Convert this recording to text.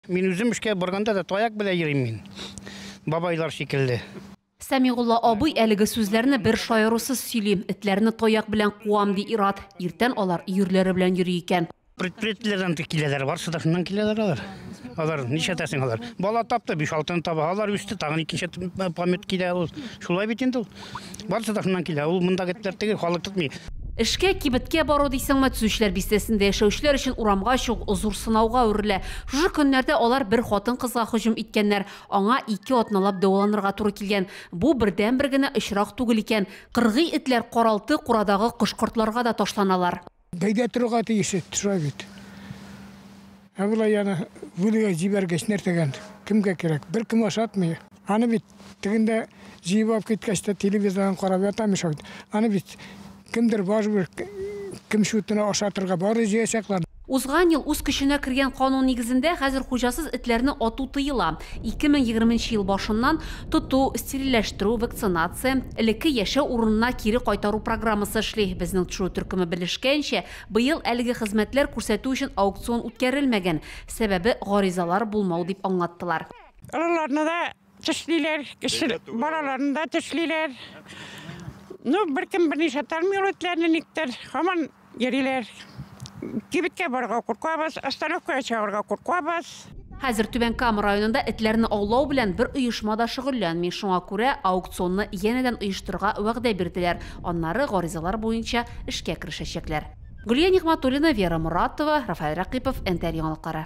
Мин үзем эшкә барганда да таяк белән йөрим мин. Бабайлар шикелле. Сәмигулла абый әлеге сүзләрне бер шаярусыз сөйли. Этләрне таяк белән куам, ди Ират. Иртән алар өерләре белән йөри икән. Предприятиеләрдән киләләр, барсы да шуннан киләләр алар. Алар ничәтәсен алар. Бала тапты, биш алтын таба, алар үсте, тагын икенче помет килә ул. Шулай бит инде ул. Барысы да шуннан килә. Ул монда гетләр тегел, халык тотмый. Эшкә, кибеткә бару дисеңме, Төзүчеләр бистәсендә яшәүчеләр өчен урамга чыгу зур сынауга әверелә. Шушы көннәрдә алар бер хатын-кызга һөҗүм иткәннәр, аңа ике атналап дәваланырга туры килгән. Бу бердәнбер генә очрак түгел икән. Кыргый этләр каралты-курадагы кош-кортларга да ташланалар. Бәйдә торырга тиеш төшә бит. Ә болай яна бүлегә җибәргәч нәрсәгән? Кемгә кирәк? Бер кем ашатмый. Аны бит тегендә җыеп алып киткәч тә телевизордан карап ята мешәү. Аны бит кемдер барыбер кем шутына ашатырга бары җыячаклар. Узган ел үз көченә кергән канун нигезендә хәзер хуҗасыз этләрне ату тыела. 2020 ел башыннан Тоту, стерильләштерү, вакцинация, элекке яшәү урынына кире кайтару программасы эшли. Безнең тшү төркеме белешкәенчә, быел әлеге хезмәтләр күрсәтү өчен аукцион үткәрелмәгән, сәбәбе, гаризалар булмау, дип аңлаттылар. Олыларны да тешлиләр, кече балаларны да тешлиләр. Ну, беркем берничә тәлми ул этләрне никтер. Һаман Йөриләр. Кибеткә барырга куркабыз, остановкага чыгарга куркабыз. Хәзер Түбән Кама районында этләрне аулау белән бер оешма да шөгыльләнми, шуңа күрә аукционны янәдән оештырырга вәгъдә бирделәр, аннары гаризалар буенча эшкә керешәчәкләр. Гөлия Нигъмәтуллина, Вера Моратова, Рафаэль Рәкыйпов, НТР яңалыклары.